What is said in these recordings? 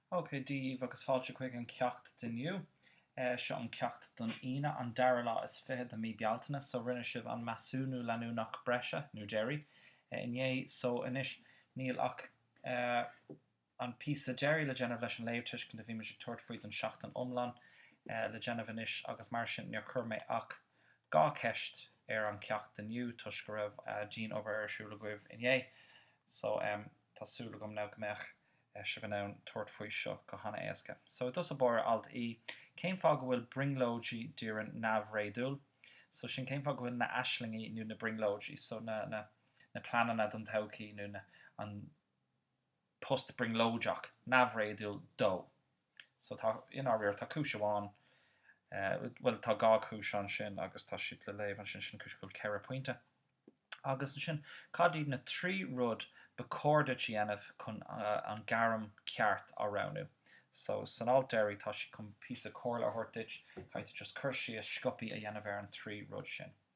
OK, Dia daoibh agus fáilte chuig an ceacht inniu. Seo an ceacht don Aoine, an dara lá is fiche de mí Bealtaine. So rinne sibh an measúnú leanúnach breise, nó deiridh, inné. So anois níl ach an píosa deiridh le déanamh leis an léamhthuiscint a bhíomar ag tabhairt faoi don seachtain iomlán le déanamh anois, agus mar sin níor chuir mé ach Dhá cheist ar an cheacht inniu toisc go raibh dianobair ar siúl agaibh inné so em tá súil agam now go mbeadh sibh in ann tabhairt faoi seo go han-éasca. So i dtús báire alt E cén fáth go bhfuil brionglóidí Dorian neamhréadúil so sin cén fáth go bhfuil na aislingí nó na brionglóidí so na na na pleananna don todhchaí nó na an post brionglóideach, neamhréadúil dó. So tá, i ndáiríre, tá cúis amháin, bhuel, tá dhá chúis ansin agus tá siad le léamh ansin, sin an chúis go bhfuil ceithre pointe. Agus ansin, cad iad na trí rud ba chóir duit a dhéanamh chun an ghairm cheart a roghnú? So san alt deiridh tá siad chun píosa comhairle a thabhairt duit, caithfidh tú just cur síos, sciobtha, a dhéanamh ar an trí rud sin.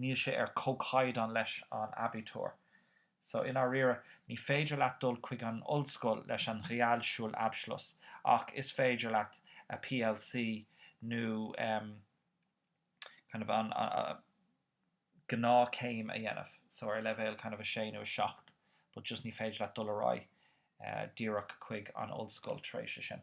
níl sé ar comhchaighdeán leis an Abitur. So, i ndáiríre, ní féidir leat dul chuig an ollscoil leis an Realschulabschluss ach is féidir leat a PLC nó em kind of an gnáthchéim a dhéanamh so ar leibhéal kind of 6 nó 7 but just ní féidir leat dul ar aghaidh díreach chuig an ollscoil tar éis é sin.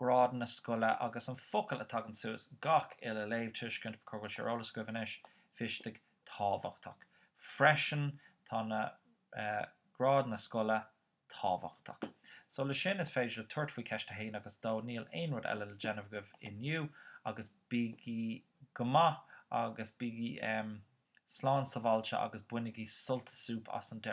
grád na scoile agus an focal a tagann suas gach uile léamhthuiscint ba chóir go bhfuil sé ar eolas agaibh anois wichtig tábhachtach freisin tá na grád na scoile tábhachtach so leis sin is féidir libh tabhairt faoi cheist a haon agus dó níl aon rud eile le déanamh agaibh inniu agus bígí go maith agus bígí slán sabháilte agus bainigí sult is súp as an deireadh.